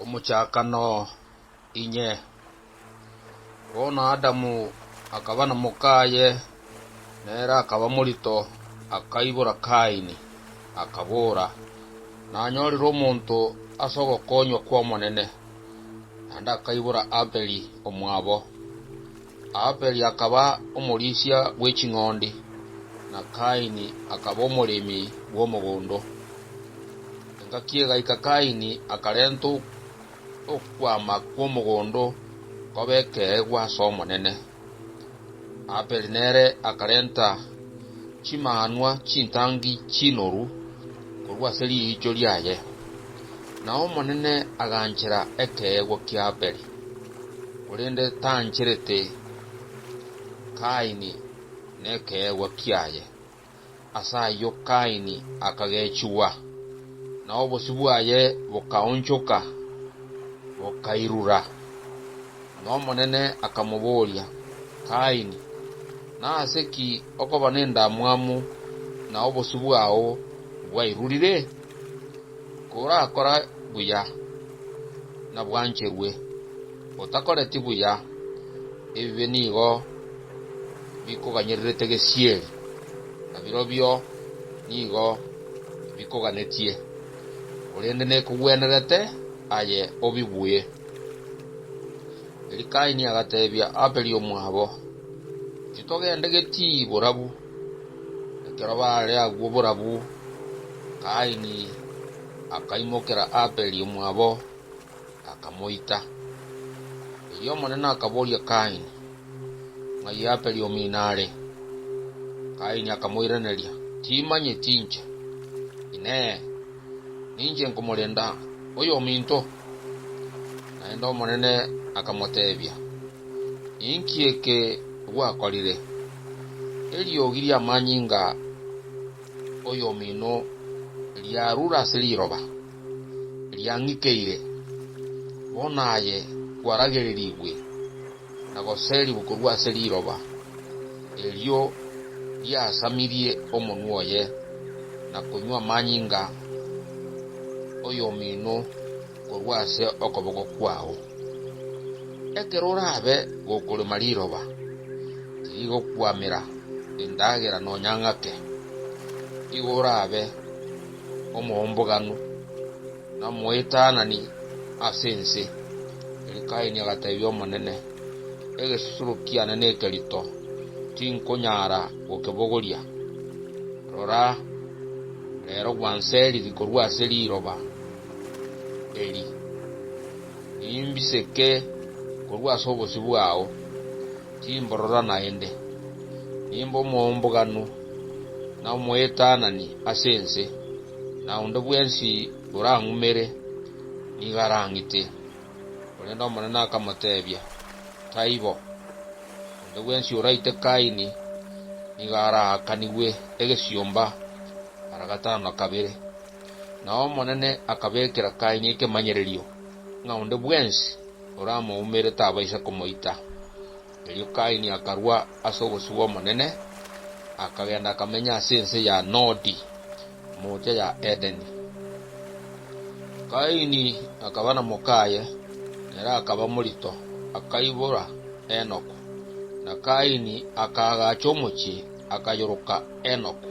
Omochakano, inye. Bono Adamu akaba na mokaye, nere akaba morito, akaibora Kaini, akabora, Nanyorire omonto ase ogokonywa kw'Omonene. Naende akaibora Abeli omwabo, Abeli akaba omorisia bwe ching'ondi, na Kaini akaba omoremi bw'omogondo. Engaki egaika Kaini akarenta okwama kw'omogondo koba ekeegwa as'Omonene. Abeli nere akarenta chimanwa chintangi chinoru korwa ase riicho riaye, na Omonene aganchera ekeegwa ki'Abeli. korende tancherete Kaini nekeegwa kiaye. Ase ayio Kaini akagechigwa, na obosio bwaye bokaonchoka, bokairura. N'Omonene akamoboria, Kaini, nase ki okoba nendamwamu na obosio bwao bwairurire? Korakora buya, nabwancherwe, otakoreti buya, ebibe nigo bikoganyererete gesieri, na birobio nigo bikoganetie, korende nekogwenerete aye obibuye. Eli Kaini agateebia ababeri omwabo, Intitogende getiiyi borabu. Ekero baare agwo borabu, Kaini akaimokera Abeli omwabo, akamoita. Erio Omonene akaboria Kaini, Ng'ai Abeli omino are? Kaini akamoiraneria, Timanyeti inche. Inee! Ninche nkomorenda oyominto? Naende Omonene akamoteebia, Inki eke gwakorire? eriogi ri'amanyinga oyomino riarure ase riroba, riang'ikeire, bono aye kwaragererigwe na goserigwa korwa ase riroba erio riasamirie omonwa oye, na konywa amanyinga oyomino. korwa ase okoboko kwao. Ekero orabe gokorema riroba, tirigokwamera, endagera nonya ng'ake. Igo orabe omoomboganu na omoetanani ase ense, erio Kaini agateebia Omonene, Egesusuro kiane nekerito, tinkonyara gokebogoria. Rora, reero gwanseriri korwa ase riroba. eri, nimbiseke korwa ase obosio bwao, timborora naende. Nimbe omoumbuganu na omoetanani ase ense, na onde bwensi orang'umere nigo arang'ite. Korende Omonene akamoteebia, Taibo. Onde bwensi oraite Kaini nigo araakanigwe egesiomba mara gatano na kabere. Nao Omonene akabekera Kaini ekemanyererio, ng'a onde bwensi oramoumere tabaisa komoita. Erio Kaini akarua ase obosio bw'Omonene, akagenda akamenya ase ense ya Nodi, moocha ya Edeni. Kaini akaba na mokaye, nere akaba morito, akaibora Enoku. Na Kaini akaagacha omochie, akayoroka, Enoku,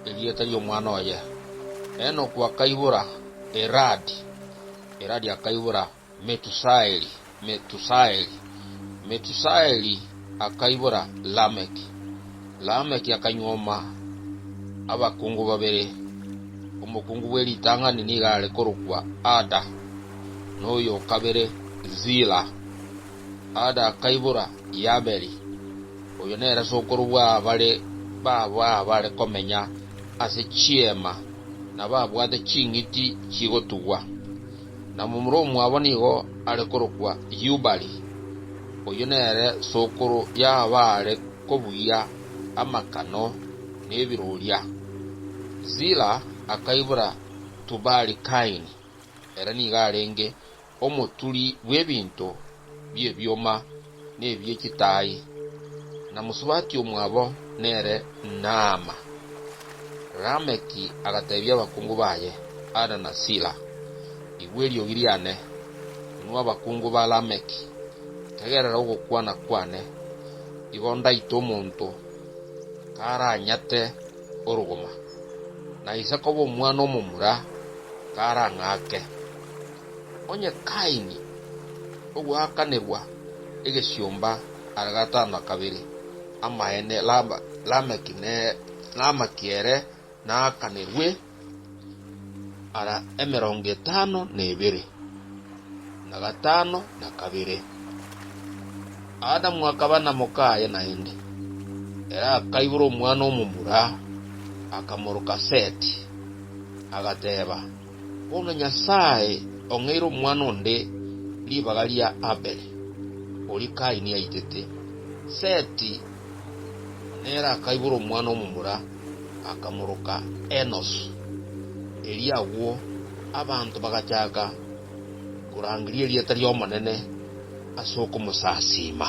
erieta ri'omwana oye. Enoku akaibora Iradi, Iradi akaibora Metusaeli, Metusaeli, Metusaeli akaibora Lameki, Lameki akanyuoma abakungu babere, omokungu bwe ritang'ani nigo are korokwa Ada, na oyo o kabere Zila. Ada akaibora Yaberi. Oyo nere sokoro bw'abare baabo abare komenya ase chiema, na babwate ching'iti chigotugwa. Na momura omwabo nigo are korokwa Yubali. Oyio nere sokoro y'abare kobugia amakano nebiroria. Zila akaibora Tubali-Kaini, ere nigo arenge omoturi bw'ebinto bi'ebioma na ebie chitaai, na mosubati omwabo nere Naama. Lameki agateebia abakungu baye, Ada na Sila, igwa eriogi riane, inwe abakungu ba Lameki, tegerera ogokwana kwane, igo ndaite omonto karanyate orogoma, na ise koba omwana omomura karang'ake. Onye Kaini ogweakanegwa egesiomba are gatano na kabere, amaene Lameki namaki ere naakanerwe ara emerongo etano na ebere, na gatano na kabere. Adamu akaba na mokaye naende, ere akaibora omwana omomura, akamoroka Seti, agateba. Bono Nyasae ong'eire omwana onde ribaga ria Abele, oria Kaini aitete. Seti nere akaibora omwana omomura, akamoroka Enosi. Erio agwo abanto bagachaka korangeria erieta ri'Omonene ase okomosasiima.